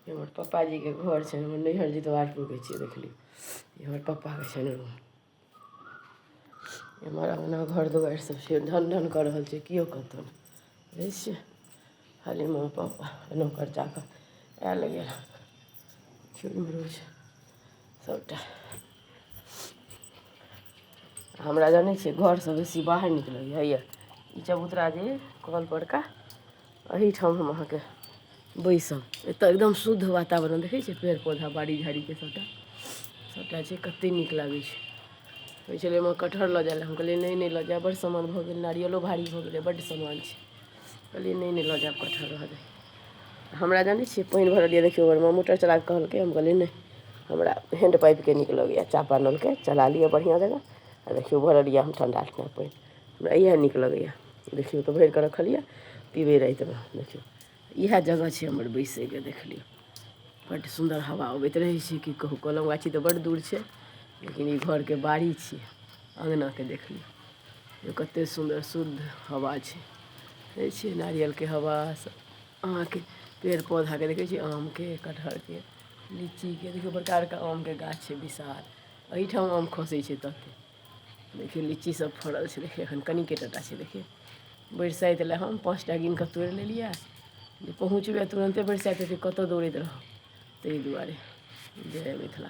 ई हमर पप्पाजीके घर छनि हमर नैहर जितवारपुरके छिए देख लिऔ ई हमर पप्पाके छनि रूम एम्हर अँगना घर दुआरिसब छै ढन ढन कऽ रहल छै केओ कतहु बुझै छिए खाली माँ पप्पा एना कर जाकऽ आएल गेल केओ इम्हरो छै सबटा हमरा जानै छिए घरसँ बेसी बाहर नीक लगैए ई चबूतरा जे कलपरका एहिठाम हम अहाँके बैसब एतऽ एकदम शुद्ध वातावरण देखै छियै पेड़ पौधा बाड़ी झाड़ीके सभटा सभटा छै कतेक नीक लागै छै कहै छलै ओहिमे कटहर लऽ जाए लए हम कहलियै नहि नहि लऽ जाएब बड्ड सामान भऽ गेल नारियलो भारी भऽ गेलै बड्ड सामान छै कहलियै नहि नहि लऽ जाएब कटहर रहऽ दे हमरा जानै छियै पानि भरल यए देखियौ घरमे मोटर चला कऽ कहलकै हम कहलियै नहि हमरा हैंड पाइपके नीक लगैए चापा नलके चला लिअ बढ़िआँ जकाँ आ देखियौ भरल यए हम ठंडा ठंडा पानि हमरा इएह नीक लगैए देखियौ तऽ भरि कऽ रखलियै पीबै रातिमे देखियौ इएह जगह छै हमर बैसैके देख लियौ बड्ड सुन्दर हवा अबैत रहै छै की कहू कलम गाछी तऽ बड्ड दूर छै लेकिन ई घरके बाड़ी छी अङ्गनाके देख लियौ कतेक सुन्दर शुद्ध हवा छै देखै छियै नारियलके हवा सब अहाँके पेड़ पौधाके देखै छियै आमके कटहरके लीचीके देखियौ बड़का बड़का आमके गाछ छै विशाल एहिठाम आम खसै छै ततेक देखियौ लीची सब फड़ल छै देखियौ एखन कनिके टाटा छै देखियौ बरसाइत लए हम पाँच टा गिन कऽ तोड़ि लेलियै जे पहुँचबै तुरन्ते बरसाइत हेतै कतय दौड़ैत रहब ताहि दुआरे जय मिथिला